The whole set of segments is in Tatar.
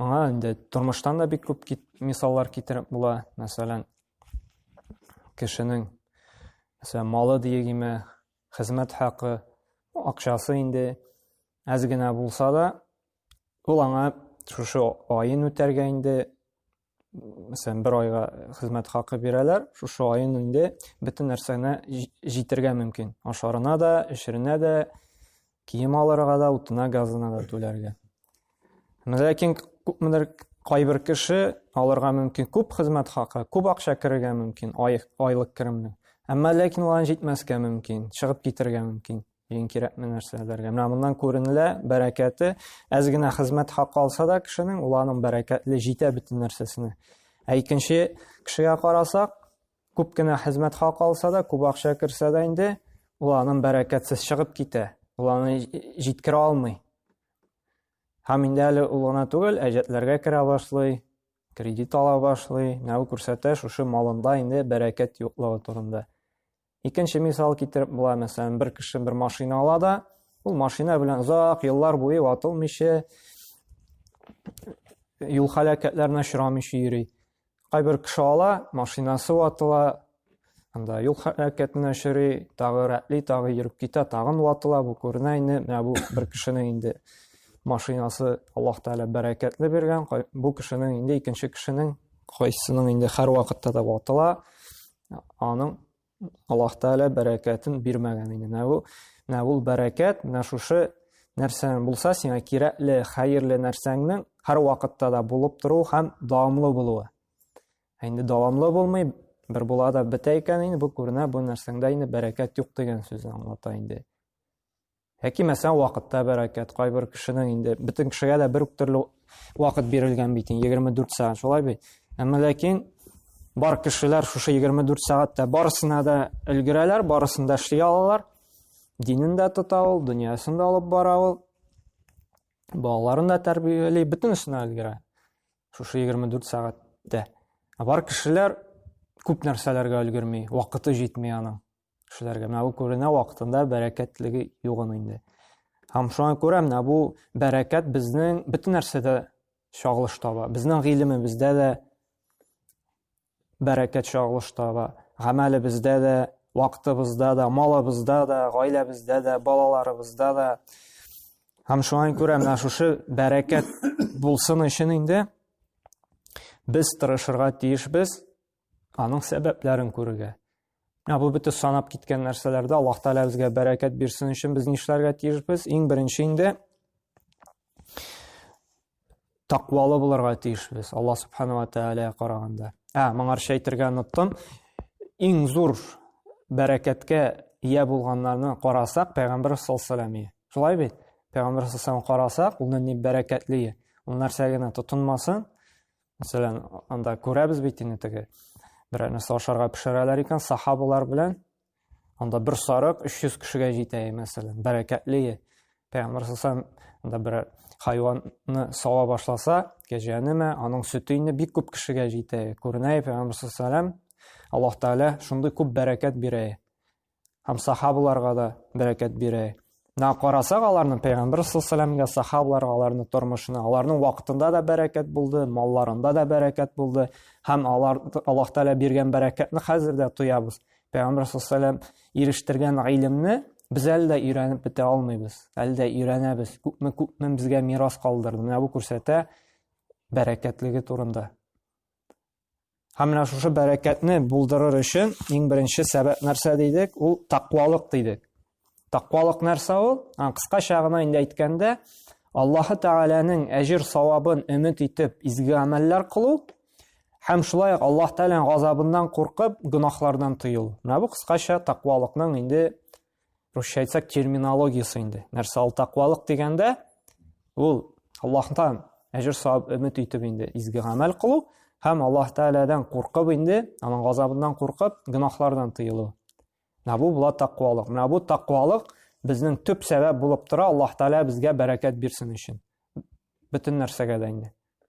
Моңа инде тормыштан да бик күп кит, мисаллар китереп була. Мәсәлән, кешенең мәсәлән, малы диегеме, хезмәт хакы, акчасы инде әз генә булса да, ул аңа шушы аен үтәргә инде мәсәлән бер айга хезмәт хакы бирәләр шушы айын инде бөтен нәрсәне җитергә мөмкин ашарына да эшеренә дә кием алырга да утына газына да түләргә ләкин күпмедер кайбер кеше алырга мөмкин күп хезмәт хакы күп акча керергә мөмкин ай, айлык керемне әмма ләкин алан җитмәскә мөмкин чыгып китергә мөмкин Иң кирәкме нәрсәләргә? Менә моннан күренелә бәрәкәте. Әз генә хезмәт хакы алса да кешенең, ул аның бәрәкәтле җитә бөтен нәрсәсенә. Ә икенче кешегә карасак, күп кенә хезмәт хакы алса да, күп акча керсә дә инде, ул аның бәрәкәтсез чыгып китә. Ул аны җиткерә алмый. Һәм инде әле ул гына түгел, әҗәтләргә керә башлый, кредит ала башлый, нәү күрсәтә шушы малында инде бәрәкәт юклыгы турында. Икенче мисал китереп була, мәсәлән, бер кеше бер машина ала да, ул машина белән озак еллар буе ватылмыйча, юл халәкәтләренә очрамыйча йөри. Кайбер кеше ала, машинасы ватыла, анда юл халәкәтенә очрый, тагы рәтли, тагы йөреп китә, тагын ватыла, бу күренә инде, менә бу бер кешенең инде машинасы Аллаһ Тәгалә бәрәкәтле биргән, бу кешенең инде икенче кешенең кайсының инде һәр вакытта да ватыла, Аның Аллаһ Тәгалә бәрәкәтен бирмәгән иде. Менә бу, менә ул бәрәкәт, менә шушы нәрсә булса сиңа кирәкле, хәерле нәрсәңнең һәр вакытта да булып тору һәм дәвамлы булуы. Ә инде дәвамлы булмый, бер була да бетә икән инде, бу күренә, бу нәрсәңдә инде бәрәкәт юк дигән сүзне аңлата инде. Яки мәсәлән вакытта бәрәкәт, кайбер кешенең инде бөтен кешегә дә бер үк төрле вакыт бирелгән бит, 24 сәгать шулай бит. Әмма ләкин бар кешеләр шушы 24 сәгатьтә барысына да өлгерәләр, барысын да эшли алалар. Динен дә тота ул, дөньясын да алып бара ул. Балаларын да тәрбияли, бөтенесенә өлгерә. Шушы 24 сәгатьтә. Ә бар кешеләр күп нәрсәләргә өлгерми, вакыты җитми аның. кешеләргә менә бу күренә вакытында бәрәкәтлеге югын инде һәм шуңа күрә менә бу бәрәкәт безнең бөтен нәрсәдә чагылыш таба безнең гыйлемебездә дә бәрәкәт чагылыш таба гамәлебездә дә вакытыбызда да малыбызда да гаиләбездә дә балаларыбызда да һәм шуңа күрә менә шушы бәрәкәт булсын өчен инде без тырышырга тиешбез аның сәбәпләрен күрергә. Ә бу бит санап киткән нәрсәләрдә Аллаһ Тәгалә безгә бәрәкәт бирсен өчен без нишләргә тиешбез? Иң беренче инде тақвалы булырга тиешбез Аллаһ Субханала Тәгаләгә караганда. Ә, моңарча әйтергә оныттым. Иң зур бәрәкәткә ия булганнарны карасак, Пәйгамбер саллаллаху Шулай бит? Пәйгамбер саллаллаху карасак, ул ни бәрәкәтле. Ул нәрсә генә тотынмасын, Мәсәлән, анда күрәбез бит инде теге берәр нәрсә ашарга пешерәләр икән, сахабалар белән анда бер сарык 300 кешегә җитә, мәсәлән, бәрәкәтле. Пәйгамбер сасам анда бер хайванны сава башласа, кәҗәнеме, аның сөте инде бик күп кешегә җитә. Күренә, пәйгамбер сасам Аллаһ Тәгалә шундый күп бәрәкәт бирә. һәм сахабаларга да бәрәкәт бирә. Менә карасак, аларның пәйгамбәр саллаллаһу сахабаларга аларның тормышына, аларның вакытында да бәрәкәт булды, малларында да бәрәкәт булды һәм алар Аллаһ Тәгалә биргән бәрәкәтне хәзер дә тоябыз. Пәйгамбәр саллаллаһу ирештергән гыйлемне без әле дә өйрәнеп бетә алмыйбыз, әле дә өйрәнәбез. Күпме күпме безгә мирас калдырды. Менә бу күрсәтә бәрәкәтлеге турында. Һәм менә шушы бәрәкәтне булдырыр өчен иң беренче сәбәп нәрсә дидек? Ул тақвалык дидек. Тақвалык нәрсә ул? Кыскача гына инде әйткәндә, Аллаһы Тәгаләнең әҗир савабын өмет итеп изге гамәлләр кылу һәм шулай ук Аллаһ Тәгаләнең газабыннан куркып гөнаһлардан тыю. Менә бу кыскача тақвалыкның инде Русча әйтсәк, терминологиясе инде. Нәрсә ул тәкъвалык дигәндә, ул Аллаһтан әҗер савап өмет итеп инде изге гамәл кылу һәм Аллаһ Тәгаләдән куркып инде, аның газабыннан куркып, гөнаһлардан тыелу. Менә бу була тәкъвалык. Менә бу тәкъвалык безнең төп сәбәп булып тора Аллаһ Тәгалә безгә бәрәкәт бирсен өчен. Бөтен нәрсәгә дә инде.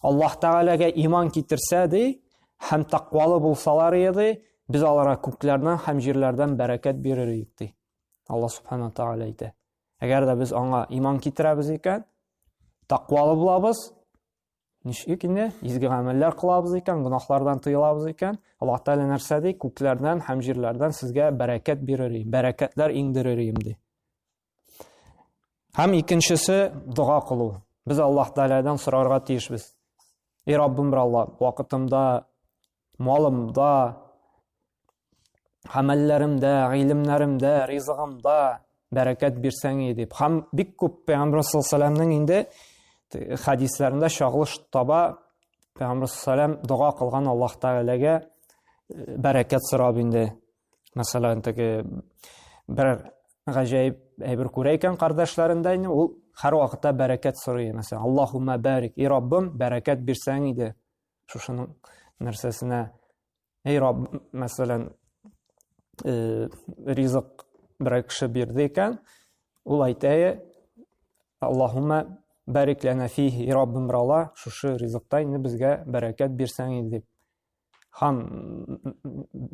Аллаһ Тәгаләгә иман китерсә ди, һәм тәкъвалы булсалар иде, без аларга күкләрдән һәм җирләрдән бәрәкәт бирер идек ди. Алла Субхана Тәгалә әйтә. Әгәр дә без аңа иман китерәбез икән, тәкъвалы булабыз, ничек инде изге гамәлләр кылабыз икән, гөнаһлардан тыелабыз икән, Аллаһ Тәгалә нәрсә ди? Күкләрдән һәм җирләрдән сезгә бәрәкәт бирер идем, бәрәкәтләр иңдерер идем ди. Һәм икенчесе дога кылу. Без Аллаһ Тәгаләдән сорарга тиешбез. Эй Раббым бер Алла, вакытымда, малымда, гамәлләремдә, гыйлемнәремдә, ризыгымда бәрәкәт бирсәң иде дип. Һәм бик күп Пәйгамбәр саллаллаһу инде хәдисләрендә чагылыш таба Пәйгамбәр саллаллаһу дога кылган Аллаһ Тәгаләгә бәрәкәт сорап инде. Мәсәлән, теге бер гаҗәеп әйбер күрә икән кардашларында инде, ул һәрвакытта бәрәкәт сорый. Мәсәлән, Аллаһумма барик, и Раббым, бәрәкәт бирсәң иде. Шушының нәрсәсенә, эй Рабб, мәсәлән, э, ризык бер кеше бирде икән, ул әйтә, Аллаһумма барик лана фихи, и Раббым, брала, шушы ризыкта инде безгә бәрәкәт бирсәң иде дип. Хан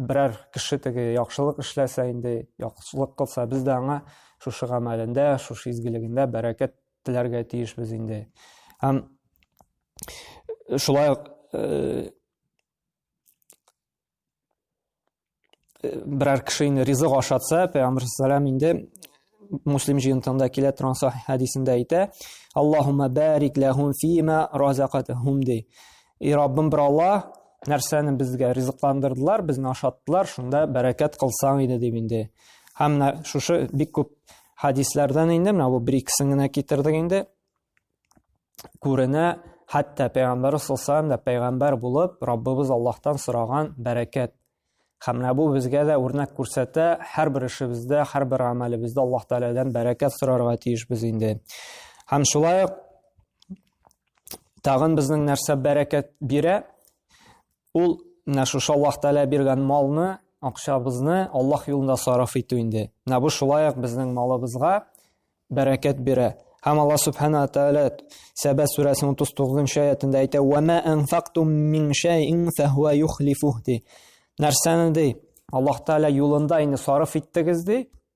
берәр кеше теге яхшылык эшләсә инде, яхшылык кылса, без дә аңа шушы гамәлендә, шушы изгелегендә бәрәкәт теләргә тиешбез инде. Һәм шулай ук э, э, берәр кеше инде ризык ашатса пәйгамбәр салам инде муслим җыентыгында килә торган сахи хәдисендә әйтә аллаһума бәрик ләһум фима разакатахум ди и раббым бер алла нәрсәне безгә ризыкландырдылар безне ашаттылар шунда бәрәкәт кылсаң иде дип инде һәм менә шушы бик күп хәдисләрдән инде менә бу бер икесен генә китердек инде күренә, хәтта пәйгамбәр саллаллаху да пәйгамбәр булып, Раббыбыз Аллаһтан сораган бәрәкәт. Һәм менә бу безгә дә үрнәк күрсәтә, һәрбер эшебездә, һәрбер гамәлебездә Аллаһ Тәгаләдән бәрәкәт сорарга тиешбез инде. Һәм шулай ук тагын безнең нәрсә бәрәкәт бирә? Ул менә шушы Аллаһ Тәгалә биргән малны, акчабызны Аллаһ юлында сарыф итү инде. Менә бу шулай ук безнең малыбызга бәрәкәт бирә. Һәм Аллаһ Субхана ва Тәгалә Сәбә сүрәсенең 39-нчы аятында әйтә: "Ва ма анфактум мин шәйин фәһуа юхлифух" ди. Нәрсәне ди? Аллаһ Тәгалә юлында инде сарыф иттегез ди,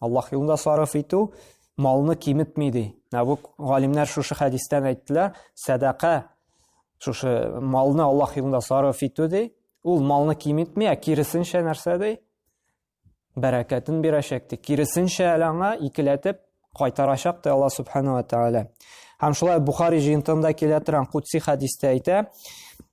Аллаһ юлында сарыф итү малны киметми ди. Ә бу галимнәр шушы хәдистән әйттеләр, сәдака шушы малны Аллаһ юлында сарыф итү ди. Ул малны киметми, ә киресенчә нәрсә ди? Бәрәкәтен бирәчәк ди. Киресенчә әле аңа икеләтеп кайтарачак ди Аллаһ субхану ва тааля. Һәм шулай Бухари җыентында килә торган кутси хәдистә әйтә,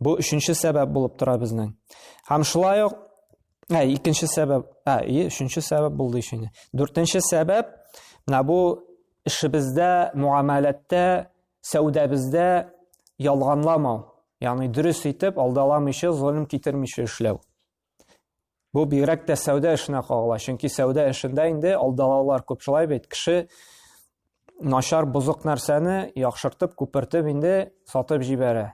Бу өченче сәбәп булып тора безнең. Һәм шулай ук ә, икенче сәбәп, ә, и, өченче сәбәп булды ишене. Дүртенче сәбәп, менә бу эшебездә, муамәләттә, сәүдәбездә ялганламау. Ягъни дөрес итеп, алдаламыйча, золым китермичә эшләү. Бу бигрәк тә сәүдә эшенә кагыла, чөнки сәүдә эшендә инде алдалаулар күп шулай бит. Кеше начар бозык нәрсәне яхшыртып, күпертеп инде сатып җибәрә.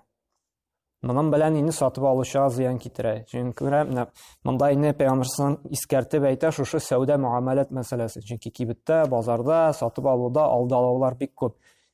Моның белән инде сатып алучыга зыян китерә. Чөнки менә монда инде пәйгамбәрсен искәртеп әйтә шушы сәүдә муамалат мәсьәләсе. Чөнки кибеттә, базарда, сатып алуда алдалаулар бик күп.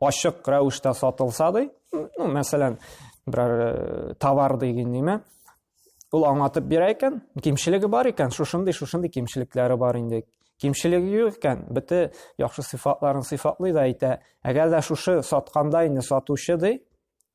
ачык рәвештә сатылса ди ну мәсәлән берәр э, товар деген неме ул аңлатып бирә икән кимчелеге бар икән шушындый шушындый кимчелекләре бар инде кимчелеге юк икән бите яхшы сыйфатларын сыйфатлый да әйтә әгәр дә шушы сатканда инде сатучы ди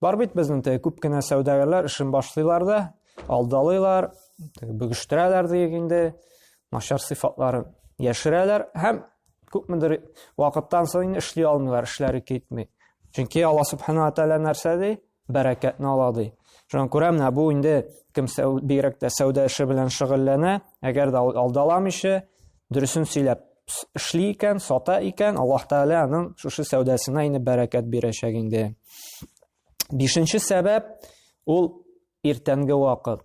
Бар бит безнең теге күп кенә сәүдәгәрләр эшен башлыйлар да, алдалыйлар, теге бөгештерәләр диек инде, начар сыйфатларын яшерәләр һәм күпмедер вакыттан соң инде эшли алмыйлар, эшләре китми. Чөнки Алла субхана тәгалә нәрсә ди? Бәрәкәтне ала ди. Шуңа күрә менә бу инде кем бигрәк тә сәүдә эше белән шөгыльләнә, әгәр дә алдаламыйча, дөресен сөйләп эшли икән, сата икән, Аллаһ Тәгалә аның шушы сәүдәсенә инде бәрәкәт бирәчәк инде. Бишенче сәбәп ул иртәнге вакыт.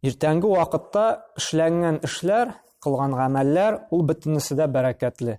Иртәнге вакытта эшләнгән эшләр, кылган гамәлләр ул бөтенесе дә бәрәкәтле.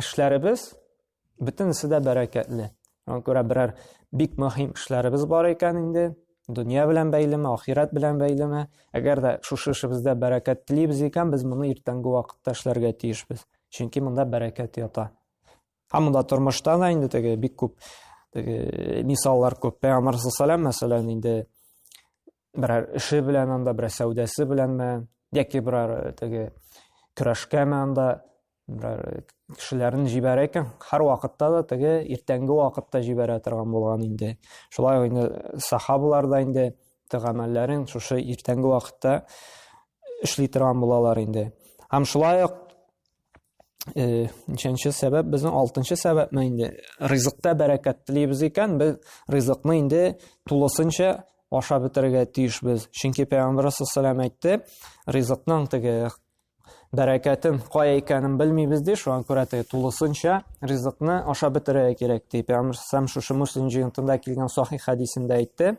эшләребез бөтенесе дә бәрәкәтле. Аңа күрә берәр бик мөһим эшләребез бар икән инде, дөнья белән бәйлеме, ахирәт белән бәйлеме, әгәр дә шушы эшебездә бәрәкәт телибез икән, без моны иртәнге вакытта эшләргә тиешбез. Чөнки монда бәрәкәт ята. Һәм монда тормышта да инде теге бик күп теге мисаллар күп. Пәйгамбәр мәсәлән инде берәр эше белән анда, берәр сәүдәсе беләнме, яки берәр э, теге көрәшкәме анда, берәр э, кешеләрен җибәрә икән, һәр вакытта да теге иртәнге вакытта җибәрә торган булган инде. Шулай ук инде э, сахабалар да инде тәгамәлләрен шушы иртәнге вакытта эшли торган булалар инде. Һәм шулай ук Э, ничәнче сәбәп безнең алтынчы сәбәпме инде ризыкта бәрәкәт телибез икән без ризыкны инде тулысынча ашап бетерергә тиешбез чөнки пәйгамбәр саллаллаху әйтте ризыкның теге бәрәкәтен кая икәнен белмибез ди шуңа күрә теге тулысынча ризыкны ашап бетерергә кирәк ди пәйгамбәр саллаллаху шушы муслим җыентында килгән сахих хәдисендә әйтте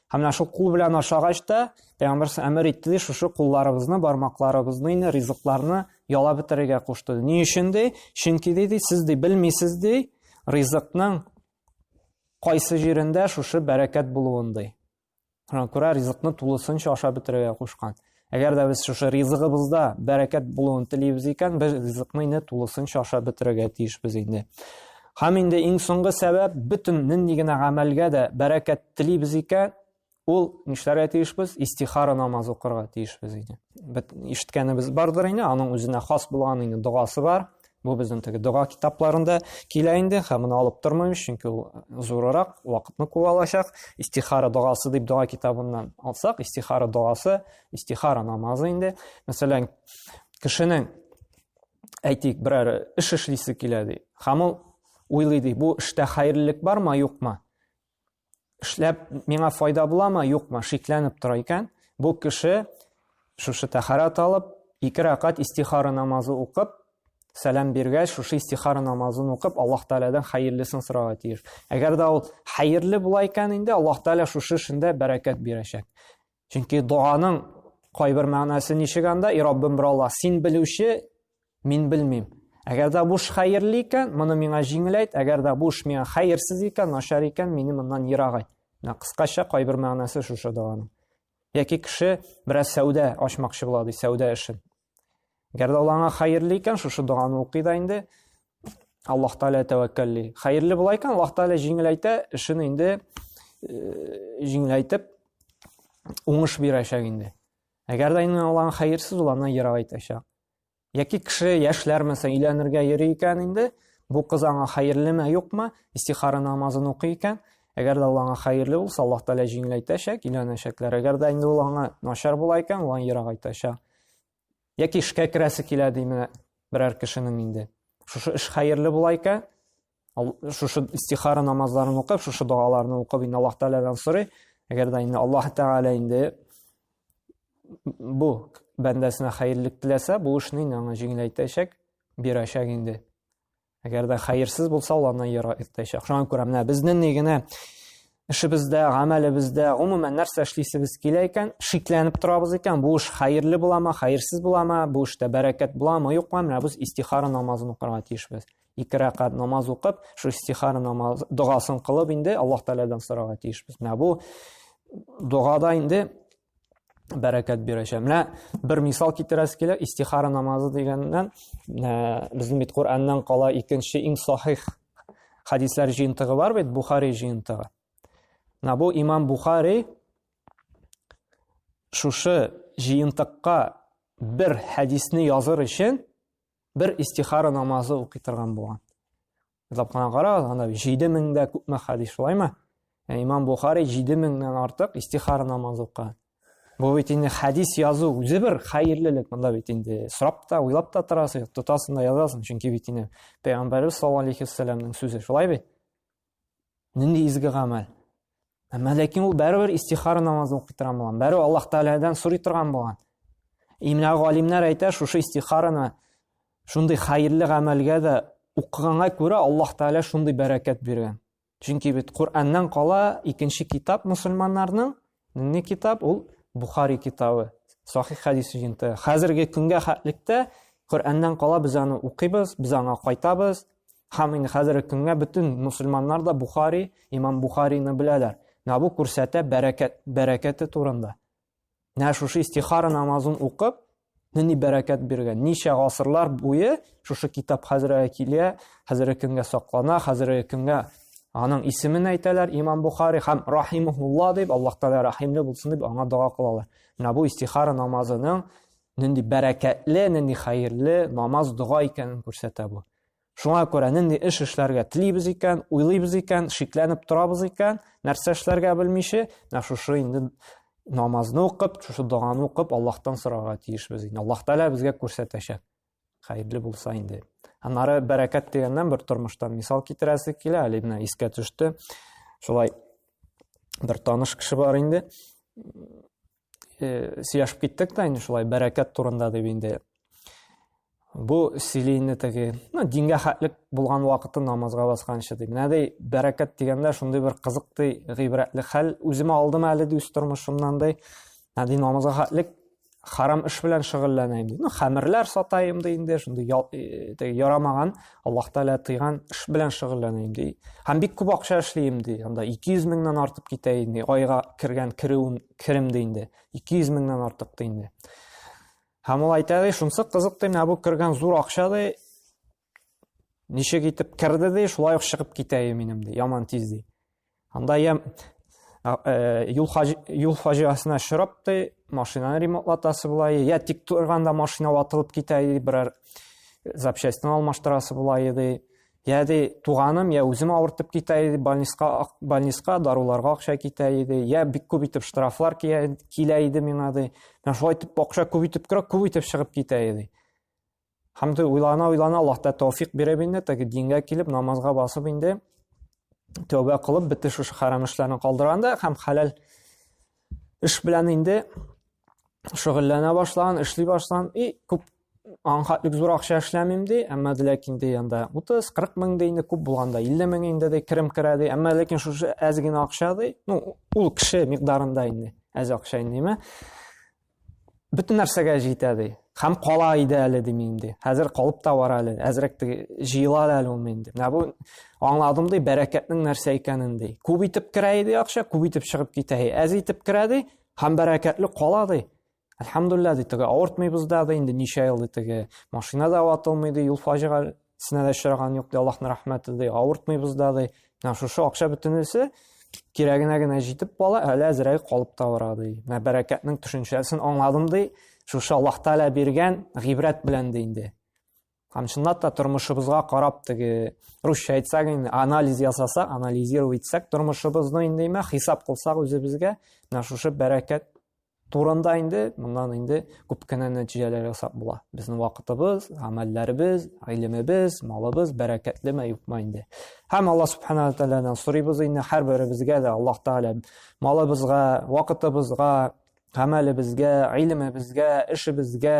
Һәм менә шул кул белән ашагач та, Пәйгамбәр әмер итте ди, шушы кулларыбызны, бармакларыбызны инде ризыкларны яла бетерергә кушты. Ни өчен ди? Чөнки ди, сез ди белмисез ди, ризыкның кайсы җирендә шушы бәрәкәт булуын ди. Күрә ризыкны тулысынча ашап бетерергә кушкан. Әгәр дә без шушы ризыгыбызда бәрәкәт булуын телибез икән, без ризыкны инде тулысынча ашап бетерергә тиешбез инде. Һәм инде иң соңгы сәбәп, бөтен нинди генә гамәлгә дә бәрәкәт телибез икән, ул нишләргә тиешбез? Истихара намаз укырга тиешбез инде. Бит ишеткәнебез бардыр инде, аның үзенә хас булган инде догасы бар. Бу безнең теге дога китапларында килә инде, һәм моны алып тормыйм, чөнки ул зурырак, вакытны куа алачак. Истихара догасы дип дога китабыннан алсак, истихара догасы, истихара намазы инде. Мәсәлән, кешенең әйтик, берәр эш эшлисе килә ди. Һәм ул уйлый ди, бу эштә хәерлелек бармы, юкмы? эшләп миңа файда буламы, юкмы, шикләнеп тора икән, бу кеше шушы тәхарат алып, ике рәкать истихара намазы укып, сәлам биргәч, шушы истихара намазын укып, Аллаһ Тәгаләдән хәерлесен сорарга тиеш. Әгәр дә ул хәерле була икән инде, Аллаһ Тәгалә шушы эшендә бәрәкәт бирәчәк. Чөнки доганың кайбер мәгънәсе ничек анда? И Раббым бер Аллаһ, син белүче, мин белмим. Әгәр дә буш хәерле икән, моны миңа җиңеләйт, әгәр дә буш миңа хәерсез икән, начар икән, мине моннан ерагайт. Менә кыскача кайбер мәгънәсе шушы доганың. Яки кеше бераз сәүдә ачмакчы була ди, сәүдә эшен. Әгәр дә ул аңа хәерле икән, шушы доганы укый да инде Аллаһ Тәгалә тәвәккәлли. Хәерле була икән, Аллаһ Тәгалә җиңеләйтә, эшен инде э, җиңеләйтеп уңыш бирәчәк инде. Әгәр дә инде алган хәерсез ул аны ерак итәчәк. Яки кеше яшьләр мәсәлән өйләнергә йөри икән инде, бу кыз аңа хәерлеме, юкмы, истихара намазын укый икән, Әгәр дә ул аңа хәерле булса, Аллаһ Тәгалә җиңеләйтәчәк, өйләнәчәкләр. Әгәр дә инде ул аңа начар була икән, ул аны ерагайтачак. Яки эшкә керәсе килә ди менә берәр кешенең инде. Шушы эш хәерле була икән, шушы истихара намазларын укып, шушы догаларны укып, инде Аллаһ Тәгаләдән сорый. Әгәр дә инде Аллаһ Тәгалә инде бу бәндәсенә хәерлек теләсә, бу эшне инде аңа җиңеләйтәчәк, бирәчәк инде. Әгәр дә хәерсез булса, ул аннан ерак иртәчәк. Шуңа күрә менә безнең ни генә эшебездә, гамәлебездә, гомумән нәрсә эшлисебез килә икән, шикләнеп торабыз икән, бу эш хәерле буламы, хәерсез буламы, бу эштә бәрәкәт буламы, юкмы, менә без истихара намазын укырга тиешбез. Ике рәкат намаз укып, шу истихара намаз догасын кылып инде Аллаһ Тәгаләдән сорарга тиешбез. Менә бу догада инде бәрәкәт бирәчәк. Менә бер мисал китерәс килә, истихара намазы дигәннән, ә, безнең бит Кураннан кала икенче иң сахих хадислар җыентыгы бар бит, Бухари җыентыгы. Менә бу имам Бухари шушы җыентыкка бер хәдисне языр өчен бер истихара намазы укый торган булган. Язлап кына карагыз, анда 7000 дә күпме хадис, шулаймы? Ә Имам Бухари 7000 дән артык истихара намазы укыган. Бу бит инде хадис язу үзе бер хәерлелек. Монда бит инде сорап та, уйлап та торасың, тотасың да язасың, чөнки бит инде Пәйгамбәрбез саллаллаху алейхи вассаламның сүзе, шулай бит? Нинди изге гамәл. Әмма ләкин ул бәрібір истихара намазын укый торган булган. Бәрібір Аллаһ Тәгаләдән сорый торган булган. И менә галимнәр әйтә, шушы истихараны шундый хәерле гамәлгә дә укыганга күрә Аллаһ Тәгалә шундый бәрәкәт биргән. Чөнки бит Коръәннән кала икенче китап мусульманнарның не китап ул Бухари китабы. Сахих хәдис җинте. Хәзерге көнгә хәтлектә Коръәннән кала без аны укыйбыз, без аңа кайтабыз, Һәм инде хәзерге көнгә бөтен мусульманнар да Бухари, имам Бухарины беләләр. Менә бу күрсәтә бәрәкәт, бәрәкәте турында. Менә шушы истихара намазын укып, нинди бәрәкәт биргән. Ничә гасырлар буе шушы китап хәзергә килә, хәзерге көнгә саклана, хәзерге көнгә аның исемен әйтәләр имам бухари һәм рахимулла дип аллаһ тәала рәхимле булсын дип аңа дога кылалар менә бу истихара намазының нинди бәрәкәтле, нинди хәерле намаз, дога икәнен күрсәтә бу. Шуңа күрә нинди эш эшләргә телибез икән, уйлыйбыз икән, шикләнеп торабыз икән, нәрсә эшләргә белмичә, менә шушы инде намазны укып, шушы доганы укып, Аллаһтан сорарга тиешбез инде. Аллаһ Тәгалә безгә күрсәтәчәк. Хәерле булса инде. Аннары бәрәкәт дигәннән бер тормыштан мисал китерәсе килә, әле менә искә төште. Шулай бер таныш кеше бар инде. э, сөйләшеп киттек тә инде шулай бәрәкәт турында дип инде бу сөйлейне теге ну дингә хәтлек булган вакыты намазга басканчы ди менә ди бәрәкәт дигәндә шундый бер кызык ди гыйбрәтле хәл үземә алдым әле ди үз тормышымнан ди менә ди намазга хәтлек харам эш белән шөгыльләнәйм ди ну хәмерләр сатайым ди инде шундый э, теге ярамаган аллаһ тәгалә тыйган эш белән шөгыльләнәйм ди һәм бик күп акча эшлим ди анда ике йөз меңнән артып китә инде айга кергән керүен керем ди инде. 200 меңнән артык ди инде. Һәм ул әйтә ди, шунсы кызык ди, менә бу кергән зур акча ди. Ничек итеп керде ди, шулай ук чыгып китә ди минем ди, яман тиз ди. Анда я э, юл хаҗ юл фаҗиасына шырап ди, машинаны ремонтлатасы була, я тик торганда машина ватылып китә ди, берәр запчастьны алмаштырасы була ди. Я ди, туганым, я үзем авыртып китә иде, больниска, больниска даруларга акча китә иде, я бик күп итеп штрафлар килә иде миңа ди. Менә шулай итеп акча күп итеп керә, күп итеп чыгып китә иде. Һәм дә уйлана уйлана Аллаһ та тәүфик биреп инде, теге дингә килеп, намазга басып инде, тәүбә кылып, бите шушы хәрам эшләрне калдырганда һәм хәләл эш белән инде шөгыльләнә башлаган, эшли башлаган и күп Анга бик зур акча эшләмим ди, әмма ләкин ди анда 30-40 мең ди, инде күп булганда 50 мең инде ди керем керә ди. Әмма ләкин шушы әз генә акча ди, ну, ул кеше микъдарында инде, әз акча инде, әмма бөтен нәрсәгә җитә ди. Хәм кала иде әле ди мин ди. Хәзер калып та бар әле, әзрәк ди, җыела әле ул мин ди. Менә бу аңладым ди, бәрәкәтнең нәрсә икәнен ди. Күп итеп керә иде акча, күп итеп чыгып китә. Әз итеп керә ди, һәм бәрәкәтле кала ди. Әлхәмдулилла ди теге авыртмыйбыз да ди инде ничә ел ди теге машина да ватылмый ди юл фаҗигасенә дә очраган юк ди Аллаһның рәхмәте ди авыртмыйбыз да ди менә шушы акча бөтенесе кирәгенә генә җитеп кала әле әзерәй калып та бара ди менә бәрәкәтнең төшенчәсен аңладым ди шушы Аллаһ Тәгалә биргән гыйбрәт белән ди инде Һәм чынлап та тормышыбызга карап теге русча әйтсәк инде анализ ясасак, анализировать итсәк тормышыбызны инде имә хисап кылсак үзебезгә, менә шушы бәрәкәт турында инде моннан инде күп кенә нәтиҗәләр ясап була. Безнең вакытыбыз, гамәлләребез, гыйлемебез, малыбыз бәрәкәтлеме, юкмы инде. Һәм Алла субхана тәгаләдән сорыйбыз инде һәрберебезгә дә Аллаһ тәгалә малыбызга, вакытыбызга, гамәлебезгә, гыйлемебезгә, эшебезгә,